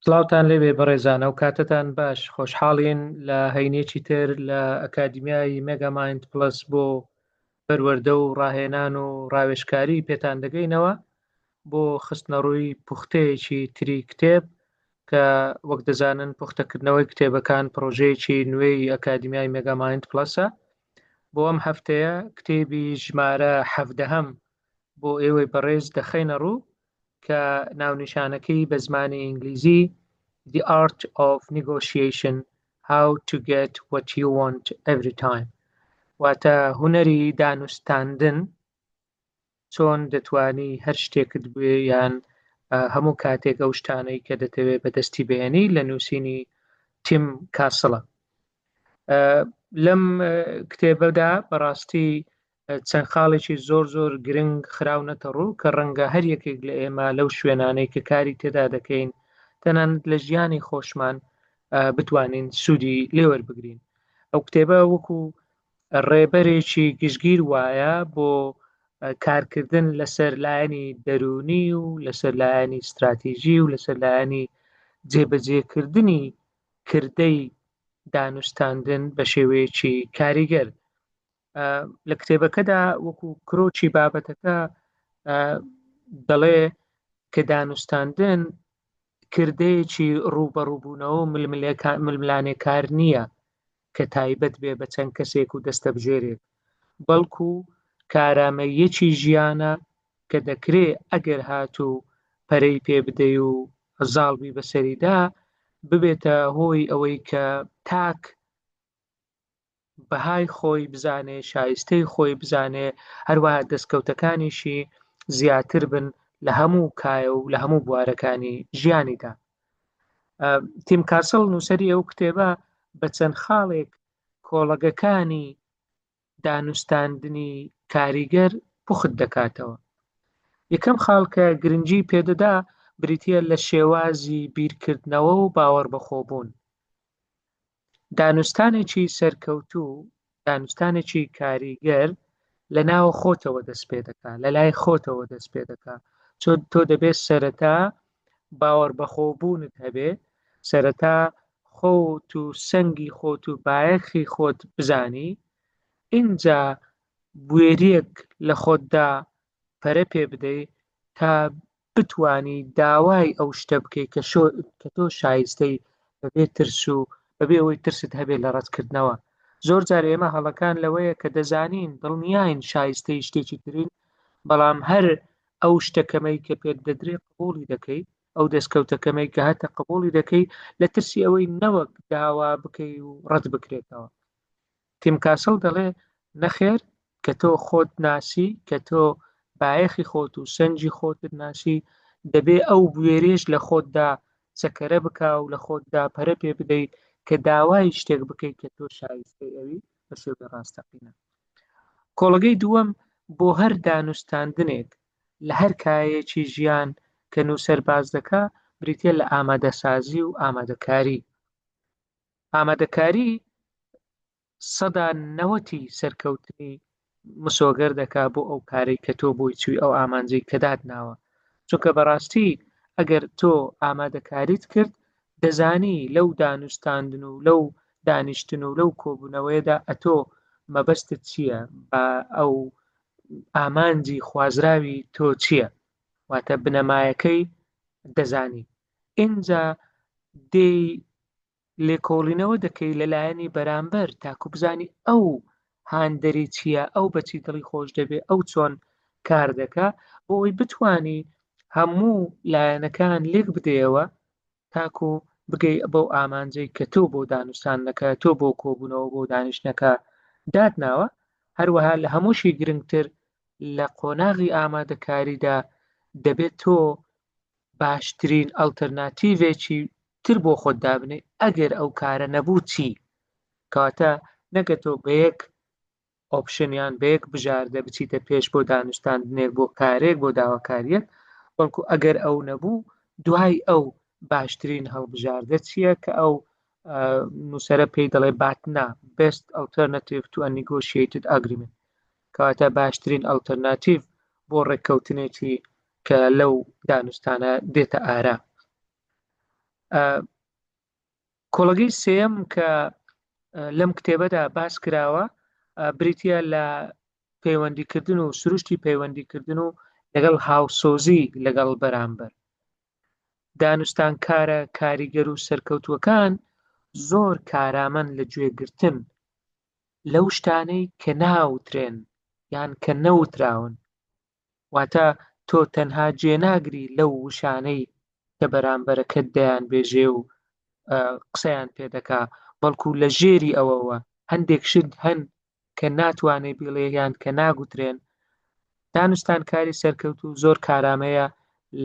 سڵاوتان لێبێ بەڕێزان ئەو کاتتان باش خۆشحاڵین لە هەینێکی تر لە ئەکادیمیای مێگامایند پلس بۆ پەروەەردە و ڕاهێنان و ڕاوێشکاری پێتان دەگەینەوە بۆ خستنەڕووی پوختەیەکی تری کتێب کە وەک دەزانن پوختەکردنەوەی کتێبەکان پرۆژەیەکی نوێی ئەکادیمیای مێگامایند پلسە بۆ ئەم هەفتەیە کتێبی ژمارە حەفدەهەم بۆ ئێوەی بەڕێز دەخەینە ڕوو کە ناونیشانەکەی بە زمانی ئینگلیزی The Art of Negotiation How to Get What You Want Every Time واتە هوەری دانوستاندن چۆن دەتوانی هەر شتێکت بێ یان هەموو کاتێک ئەو شتانەی کە دەتەوێت بەدەستی بێنی لە نووسینی تیم کاسڵە لەم کتێبەدا بەڕاستی چەند خاڵێکی زۆر زۆر گرنگ خراونەتە ڕوو کە ڕەنگە هەر یەکێک لە ئێمە لەو شوێنانەی کە کاری تێدا دەکەین تەنانەت لە ژیانی خۆشمان بتوانین سوودی لێوەربگرین ئەو کتێبە وەکو ڕێبەرێکی گشتگیر وایە بۆ کارکردن لەسەر لایەنی دەرونی و لەسەر لایەنی استراتیژی و لەسەر لایەنی جێبەجێکردنی کردەی دانوستاندن بە شێوەیەکی کاریگەر لە کتێبەکەدا وەکو کرۆچی بابەتەکە دەڵێ کە دانوستاندن کردەیەکی ڕووبەڕووبوونەوە ململانێکار نییە کە تایبەت بێ بە چەند کەسێک و دەستە بژێرێک بەڵکو کارامەیەکی ژیانە کە دەکرێ ئەگەر هاتوو پەرەی پێ بدەی و زاڵبی بەسەریدا ببێتە هۆی ئەوەی کە تاک بەهای خۆی بزانێ شایستەی خۆی بزانێ هەروە دەستکەوتەکانیشی زیاتر بن لە هەموو کایە و لە هەموو بوارەکانی ژیانیدا تیم کاسل نووسری ئەو کتێبە بە چەند خاڵێک کۆڵەگەکانی دانوستاندنی کاریگەر پوخت دەکاتەوە یەکەم خاڵکە گرنگی پێدەدا بریتە لە شێوازی بیرکردنەوە و باوەڕ بەخۆبوون دانوستانێکی سەرکەوتوو دانوستانێکی کاریگەر لە ناوە خۆتەوە دەست پێ دەکا لە لای خۆتەوە دەست پێ دەکا چۆن تۆ دەبێت سەرەتا باوەڕ بەخۆبوونت هەبێ سەرەتا خۆت و سەنگی خۆت و بایەخی خۆت بزانی ئینجا بوێریەک لە خۆتدا پەرە پێ بدەی تا بتوانی داوای ئەو شتە بکەیت کە کە تۆ شایستەی بەبێ ترس و بەبێ ئەوەی ترست هەبێت لە ڕەتکردنەوە زۆر جار ئێمە هەڵەکان لەوەیە کە دەزانین دڵنیاین شایستەی شتێکی ترین بەڵام هەر ئەو شتەکەمەی کە پێت دەدرێت قوڵی دەکەی ئەو دەستکەوتەکەمەی کە هەتە قبولی دەکەی لە ترسی ئەوەی نەوەک داوا بکەی و ڕەت بکرێتەوە تیم کاسڵ دەڵێ، نەخێر، کە تۆ خۆت ناسی، کە تۆ بایەخی خۆت و سەنجی خۆتت ناسی، دەبێ ئەو بوێریەش لە خۆتدا چەکەرە بکا و لە خۆتدا پەرە پێ بدەی کە داوای شتێک بکەی کە تۆ شایستەی ئەوی بە شێوەی ڕاستەقینە. کۆڵگەی دووەم، بۆ هەر دانوستاندنێک لە هەر کایەیەکی ژیان کە نووسەر باس دەکا، بریتیە لە ئامادەسازی و ئامادەکاری. ئامادەکاریی سەدا نەوەتی سەرکەوتنی مسۆگەر دەکا بۆ ئەو کارەی کە تۆ بۆی چووی ئەو ئامانجەی کە داتناوە چونکە بەڕاستی ئەگەر تۆ ئامادەکاریت کرد دەزانی لەو دانوستاندن و لەو دانیشتن و لەو کۆبوونەوەیەدا ئەتۆ مەبەستت چییە بە ئەو ئامانجی خوازراوی تۆ چییە واتە بنەمایەکەی دەزانی ئینجا دێی لێکۆڵینەوە دەکەی لە لایەنی بەرامبەر تاکو بزانی ئەو هاندەری چییە ئەو بەچی دڵی خۆش دەبێ ئەو چۆن کار دەکا بۆ ئەوی بتانی هەموو لایەنەکان لێک بدەیەوە تاکو بگەی بەو ئامانجەی کە تۆ بۆ دانوستانەکە تۆ بۆ کۆبوونەوە بۆ دانیشتەکە دادناوە هەروەها لە هەمووشی گرنگتر لە قۆناغی ئامادەکاریدا دەبێت تۆ باشترین ئەلتەرناتیڤێکی تر بۆ خۆت دابنێ ئەگەر ئەو کارە نەبوو چی کەواتە نەگەتۆ بە یەک ئۆپشنیان بە یەک بژاردە بچیتە پێش بۆ دانوستاندنێک بۆ کارێک بۆ داواکاریەک بەڵکو ئەگەر ئەو نەبوو دوای ئەو باشترین هەڵبژاردە چییە کە ئەو نووسرە پێی دەڵێ باتنا بست ئەلتەرناتیو تو نیگۆشیتد ئەگریمنت کەواتە باشترین ئەڵتەرناتیڤ بۆ ڕێککەوتنێکی کە لەو دانوستانە دێتە ئارا کۆڵگەی سێم کە لەم کتێبەدا باس کراوە بریتە لە پەیوەندیکردن و سروشتی پەیوەندیکردن و لەگەڵ هاوسۆزی لەگەڵ بەرامبەر دانوستان کارە کاریگەر و سەرکەوتوەکان زۆر کارامەن لە گوێگرتن لەو شتانەی کە ناوترێن یان کە نەوتراون، واتە تۆ تەنها جێناگری لەو وشانەی کە بەرامبەرەکەت دەیانبێژێ و قسەیان پێ دەکا، بەڵکو لە ژێری ئەوەوە هەندێک شت هەن کە ناتوانێ بیڵێ یان کە ناگوترێن، دانوستانکاری سەرکەوتوو زۆر کارامەیە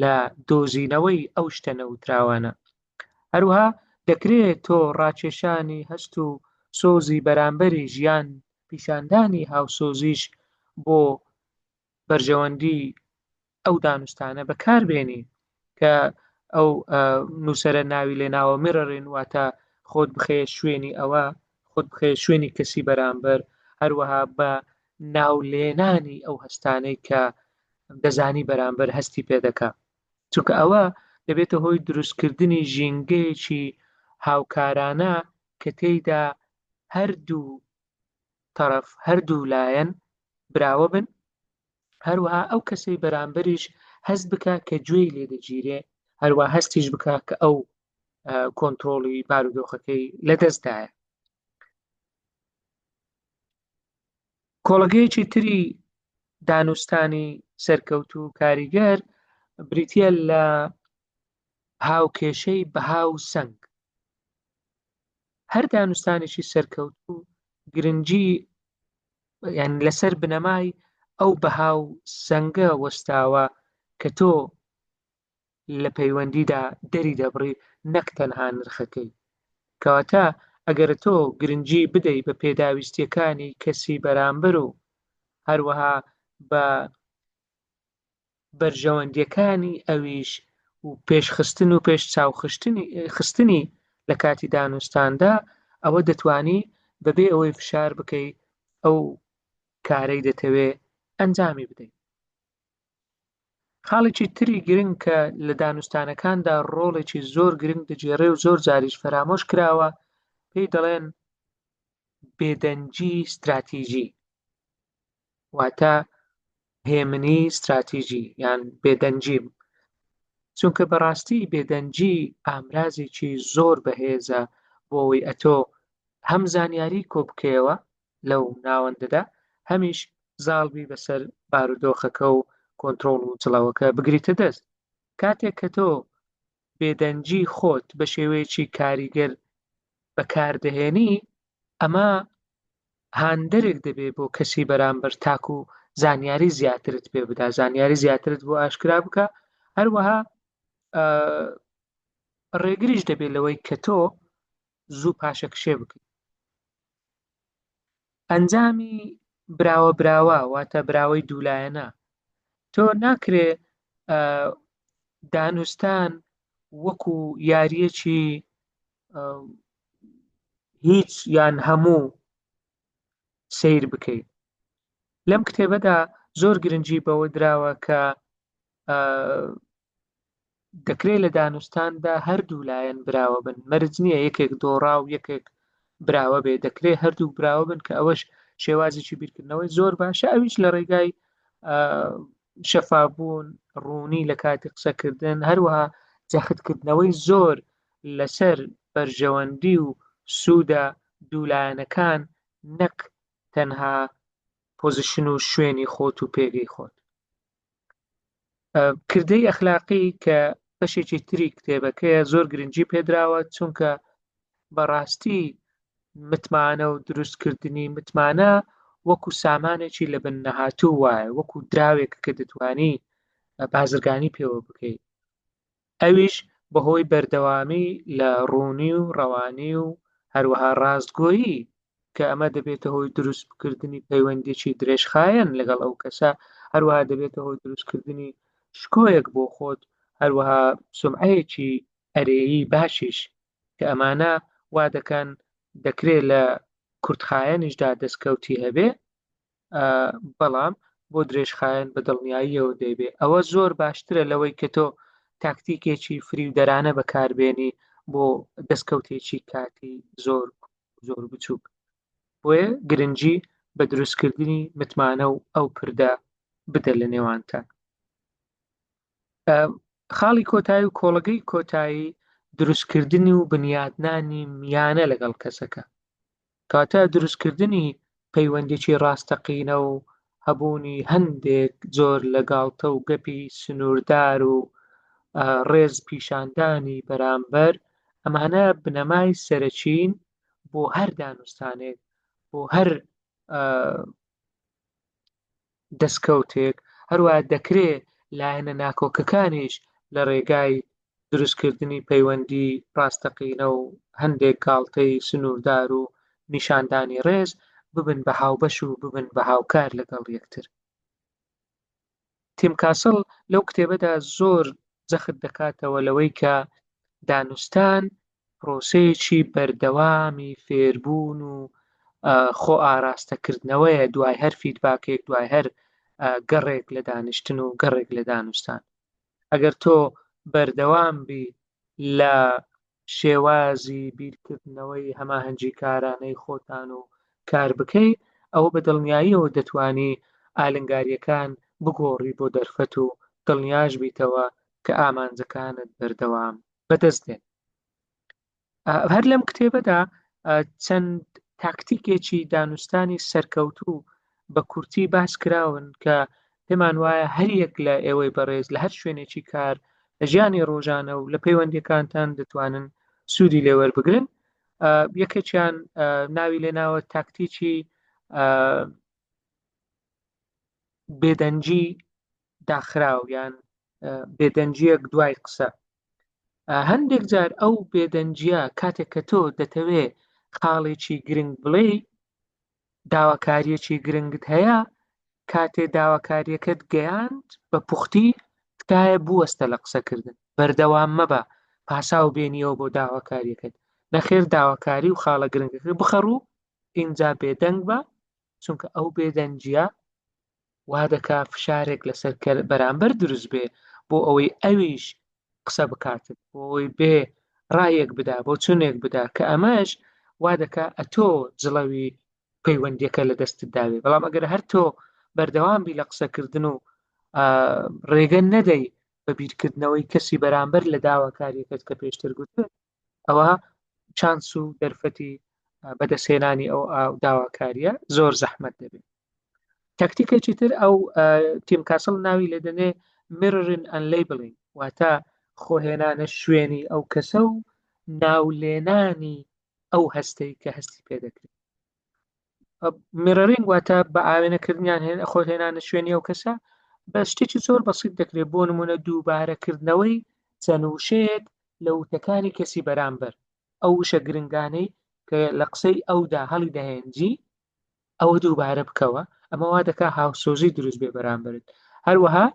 لە دۆزینەوەی ئەو شتە نەوتراوانە. هەروها دەکرێت تۆ ڕاکێشانی هەست و سۆزی بەرامبەری ژیان پیشاندانی هاوسۆزیش بۆ بەرژەوەندی ئەو دانوستانە بەکاربێنی کە ئەو نووسرە ناوی لێ ناوە میرەڕین واتە خۆت بخەیە شوێنی ئەوە خۆت بخەیە شوێنی کەسی بەرامبەر هەروەها بە ناو لێنانی ئەو هەستانەی کە دەزانی بەرامبەر هەستی پێ دەکە چونکە ئەوە دەبێتە هۆی دروستکردنی ژینگەیەکی هاوکارانە کە تێیدا هەردوو تەرەف هەردوو لایەن براوە بن هەروەها ئەو کەسەی بەرامبەریش هەست بکە کە گوێی لێ دەگیرێ هەروە هەستیش بکە کە ئەو کۆنتترۆڵی بارودۆخەکەی لەدەستدایە کۆڵەگەیەکی تری دانوستانی سەرکەوت و کاریگەر بریتە لە هاوکێشەی بەها و سنگ هەر دانوستانێکی سەرکەوت و گرنگی یان لەسەر بنەمای ئەو بەها و سنگە وەستاوە کە تۆ لە پەیوەندیدا دەری دەبڕی نەک تەنها نرخەکەی. کەواتە ئەگەر تۆ گرنگی بدەی بە پێداویستییەکانی کەسی بەرامبەر و هەروەها بە بەرژەوەندییەکانی ئەویش و پێشخستن و پێش چاو خستنی لە کاتی دانوستاندا ئەوە دەتوانی بەبێ ئەوەی فشار بکەی ئەو کارەی دەتەوێ ئەنجامی بدەی. خاڵێکی تری گرنگ کە لە دانوستانەکاندا ڕۆڵێکی زۆر گرنگ دەگێڕێ و زۆر جاریش فەرامۆش کراوە پێی دەڵێن بێدەنگی ستراتیژی واتە هێمنی ستراتیژی یان بێدەنگی چونکە بەڕاستی بێدەنگی ئامرازێکی زۆر بەهێزە بۆ ئەوەی ئەتۆ هەم زانیاری کۆبکەوە لەو ناوەندەدا هەمیش زاڵ بی بەسەر بارودۆخەکە و کۆنترۆڵ و جڵەوەکە بگریتە دەست کاتێک کە تۆ بێدەنگی خۆت بە شێوەیەکی کاریگەر بەکاردەهێنی ئەمە هاندەرێک دەبێ بۆ کەسی بەرامبەر تاکو و زانیاری زیاترت پێ بدا زانیاری زیاترت بۆ ئاشکرا بکە هەروەها ڕێگریش دەبێت لەوەی کە تۆ زوو پاشەکشێ بکەیت ئەنجامی براوە براوە واتە براوەی دوولایەنە تۆ ناکرێ دانوستان وەکو یاریەکی هیچ یان هەموو سیر بکەیت لەم کتێبەدا زۆر گرنگجی بەوە دراوە کە دەکرێت لە دانوستاندا هەردوو لایەن براوە بن مەرج نییە یەکێک دۆڕا و یەکێک براوە بێ دەکرێت هەردوو براوە بن کە ئەوەش شێوازێکی بیرکردنەوەی زۆر باشە ئەویش لە ڕێگای شەفابوون ڕوونی لە کاتی قسەکردن هەروەها جەختکردنەوەی زۆر لەسەر بەرژەوەندی و سوودە دوولایەنەکان نەک تەنها پۆزیشن و شوێنی خۆت و پێگەی خۆت کردەی ئەخلاقی کە بەشێکی تری کتێبەکەیە زۆر گرنگجی پێدراوە چونکە بەڕاستی متمانە و دروستکردنی متمانە وەکو سامانێکی لە بن نەهاتوو وایە وەکو دراوێک کە دەتوانی بازرگانی پێوە بکەیت ئەویش بەهۆی بەردەوامی لە ڕوونی و ڕەوانی و هەروەها ڕاستگۆیی کە ئەمە دەبێتە هۆی دروستکردنی پەیوەندیکی درێژخایەن لەگەڵ ئەو کەسە هەروەها دەبێتە هۆی دروستکردنی شکۆیەک بۆ خۆت هەروەها سمعەیەکی ئەرێیی باشیش کە ئەمانە وا دەکەن دەکرێت لە کورتخایەنیشدا دەستکەوتی هەبێ بەڵام بۆ درێژخایەن بە دڵنیاییەوە دەیبێ ئەوە زۆر باشترە لەوەی کە تۆ تاکتیکێکی فریودەرانە بەکاربێنی بۆ دەستکەوتێکی کاتی زۆر زۆر بچووک بۆیە گرنگجی بە دروستکردنی متمانە و ئەو پردە بدە لە نێوانتان خاڵی کۆتایی و کۆڵگەی کۆتایی دروستکردنی و بنیاتنانی میانە لەگەڵ کەسەکە کاتە دروستکردنی پەیوەندیی ڕاستەقینە و هەبوونی هەندێک جۆر لە گاڵتە و گەپی سنووردار و ڕێز پیشاندانی بەرامبەر، ئەمانە بنەمای سەرەکیین بۆ هەر دانوستانێک، بۆ هەر دەستکەوتێک، هەروەها دەکرێ لایەنە ناکۆکەکانیش لە رێگای دروستکردنی پەیوەندی راستەقینە و هەندێک گاڵتەی سنووردار و نیشاندانی رێز، ببن بە هاوبەش و ببن بە هاوکار لەگەڵ یەکتر. تیم کاسڵ لەو کتێبەدا زۆر جەخت دەکاتەوە لەوەی کە دانوستان پرۆسەیەکی بەردەوامی فێربوون و خۆ ئاراستەکردنەوەیە دوای هەر فیدباکێک دوای هەر گەڕێک لە دانیشتن و گەڕێک لە دانوستان ئەگەر تۆ بەردەوام بی لە شێوازی بیرکردنەوەی هەماهەنگی کارانەی خۆتان و کار بکەی ئەوە بە دڵنیاییەوە دەتانی ئالنگاریەکان بگۆڕی بۆ دەرفەت و دڵنیاش بیتەوە کە ئامانجەکانت بەردەوام بەدەست دێن هەر لەم کتێبەدا چەند تاکتیکێکی دانوستانی سەرکەوتوو بە کورتی باس کراون کە پێمان وایە هەریەک لە ئێوەی بەڕێز لە هەر شوێنێکی کار لە ژیانی ڕۆژانە و لە پەیوەندەکانتان دەتوانن سوودی لێوەربگرن یەکێکیان ناوی لێناوە تاکتیکی بێدەنجی داخراو یان بێدەنجیەک دوای قسە هەندێک جار ئەو بێدەنجە کاتێک کە تۆ دەتەوێ خاڵێکی گرنگ بڵێ داواکاریەکی گرنگت هەیە کاتێ داواکاریەکەت گەیاند بە پوختی تکایە بوەستە لە قسەکردن بەردەوام مەبە پاساو بێنیەوە بۆ داواکاریەکەت نەخێر داواکاری و خاڵە گرنگەکە بخەڕوو ئینجا بێدەنگ بە چونکە ئەو بێدەنجە وا دەکا فشارێک لەسەر کەر بەرامبەر دروست بێ بۆ ئەوەی ئەویش قسە بکات بۆ ئەوەی بێ ڕایەک بدا بۆ چونێک بدا کە ئەمەش وا دەکا ئەتۆ جڵەوی پەیوەندیەکە لە دەستت داوێ بەڵام ئەگەر هەر تۆ بەردەوام بی لە قسەکردن و ڕێگە نەدەی بە بیرکردنەوەی کەسی بەرامبەر لە داواکاریەکەت کە پێشتر گوت ئەوە چانس و دەرفەتی بەدەستهێنانی ئەو داواکاریە زۆر زەحمت دەبێت تەکتیکێکی تر ئەو تیم کاسڵ ناوی لە دەنێ مررن ئەن لیبلین واتە خۆهێنانە شوێنی ئەو کەسە و ناولێنانی ئەو هەستەی کە هەستی پێ دەکرێت میڕرینگ واتە بە ئاوێنەکردنیان هێن خۆ هێنانە شوێنی ئەو کەسە بە شتێکی زۆر بەسیت دەکرێت بۆ نمونە دووبارەکردنەوەی چەند وشەیەک لە وتەکانی کەسی بەرامبەر ئەو وشە گرنگانەی کە لە قسەی ئەودا هەڵی دەهێنجی ئەوە دووبارە بکەوە ئەمەوا دەکا هاوسۆزی دروست بێ بەرامبرت هەروەها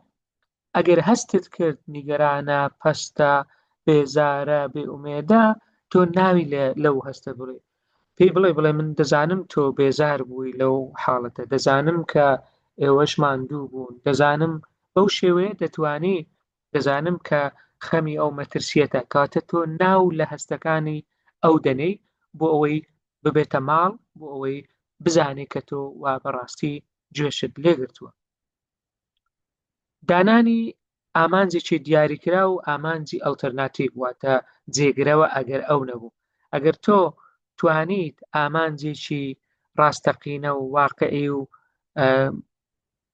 ئەگەر هەستت کرد نیگەرانە، پەستە، بێزارە، بێ ئومێدە، تۆ ناوی لە لەو هەستە بڵێ. پێی بڵێ بڵێ من دەزانم تۆ بێزار بووی لەو حاڵەتە، دەزانم کە ئێوەش ماندوو بوون، دەزانم بەو شێوەیە دەتوانی، دەزانم کە خەمی ئەو مەترسییەتە، کەواتە تۆ ناو لە هەستەکانی ئەو دەنێی بۆ ئەوەی ببێتە ماڵ، بۆ ئەوەی بزانێ کە تۆ وا بەڕاستی گوێشت لێگرتووە. دانانی ئامانجێکی دیاریکرا و ئامانجی ئەلتەرناتیڤ واتە جێگرەوە ئەگەر ئەو نەبوو ئەگەر تۆ توانیت ئامانجێکی ڕاستەقینە و واقعی و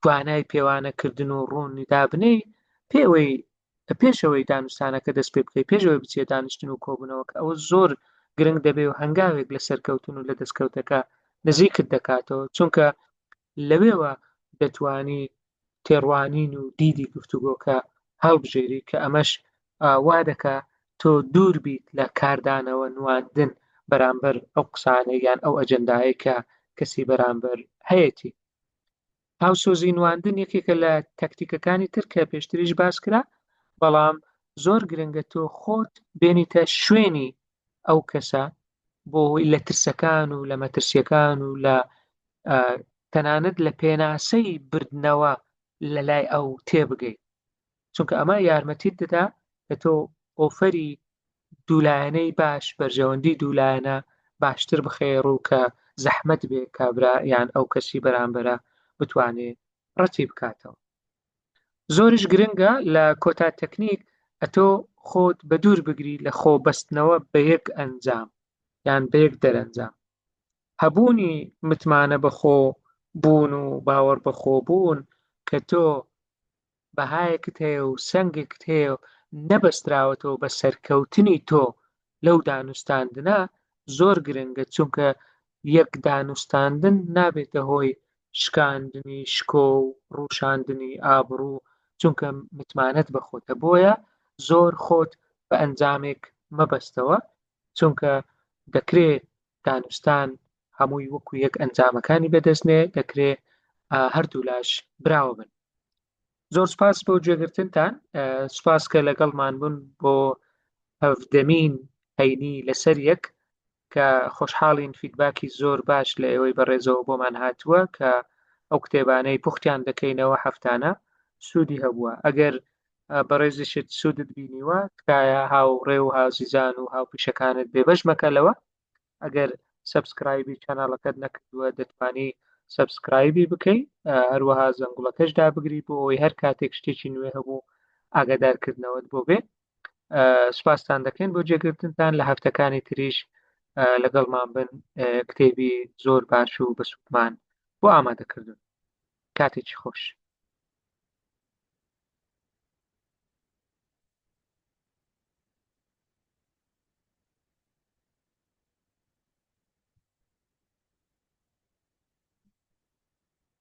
توانای پێوانەکردن و ڕوونی دابنەی پێوەی پێشەوەی دانوستانەکە دەست پێ بکەی پێشەوەی بچێت دانیشتن و کۆبنەوە کە ئەوە زۆر گرنگ دەبێ و هەنگاوێک لە سەرکەوتن و لە دەستکەوتەکە نزیکت دەکاتەوە چونکە لەوێوە دەتوانی تێڕوانین و دیدی گفتوگۆکە هەڵبژێری کە ئەمەش وا دەکا تۆ دوور بیت لە کاردانەوە نواندن بەرامبەر ئەو قسانە یان ئەو ئەجندایە کە کەسی بەرامبەر هەیەی هاوسۆزی نواندن یەکێکە لە تەکتیکەکانی تر کە پێشتریش باس کرا بەڵام زۆر گرنگە تۆ خۆت بێنیتە شوێنی ئەو کەسە بۆ هۆی لە ترسەکان و لە مەترسیەکان و لە تەنانەت لە پێناسەی بردنەوە لە لای ئەو تێبگەی چونکە ئەمە یارمەتیت دەدا کە تۆ ئۆفەری دوولایەنەی باش بەرژەوەندی دوولایەنە باشتر بخێ ڕوو کە زەحمت بێ کابرا یان ئەو کەسی بەرامبەرە بتوانێ ڕەتی بکاتەوە زۆریش گرنگە لە کۆتا تەکنیک ئەتۆ خۆت بە دوور بگری لە خۆ بەستنەوە بە یەک ئەنجام یان بە یەک دەرەنجام هەبوونی متمانە بەخۆ بوون و باوەڕ بەخۆ بوون کە تۆ بەهایەکت هەیە و سنگێکت هەیە و نەبەستراوەتەوە بە سەرکەوتنی تۆ لەو دانوستاندنە زۆر گرنگە چونکە یەک دانوستاندن نابێتە هۆی شکاندنی شکۆ و ڕوشاندنی ئابڕوو چونکە متمانەت بە خۆتە بۆیە زۆر خۆت بە ئەنجامێک مەبەستەوە چونکە دەکرێ دانوستان هەمووی وەکو یەک ئەنجامەکانی بەدەستنێ دەکرێ هەردوو لاش براوە بن زۆر سپاس بۆ گوێگرتنتان سپاس کە لەگەڵمان بوون بۆ هەفدەمین هەینی لەسەر یەک کە خۆشحاڵین فیدباکی زۆر باش لە ئێوەی بەڕێزەوە بۆمان هاتووە کە ئەو کتێبانەی پوختیان دەکەینەوە هەفتانە سوودی هەبووە ئەگەر بەڕێزیشت سوودت بینیوە تکایە هاوڕێ و هازیزان و هاوپیشەکانت بێبەش مەکە لەوە ئەگەر سبسکرایبی چەناڵەکەت نەکردووە دەتوانی سبسکرایبی بکەیت هەروەها زەنگوڵەکەش دابگری بۆ ئەوەی هەر کاتێک شتێکی نوێ هەبوو ئاگادارکردنەوەت بۆ بێ سوپاستان دەکەین بۆ جێگرتنتان لە هەفتەکانی تریش لەگەڵمان بن کتێبی زۆر باش و بە سوودمان بۆ ئامادەکردن کاتێکی خۆش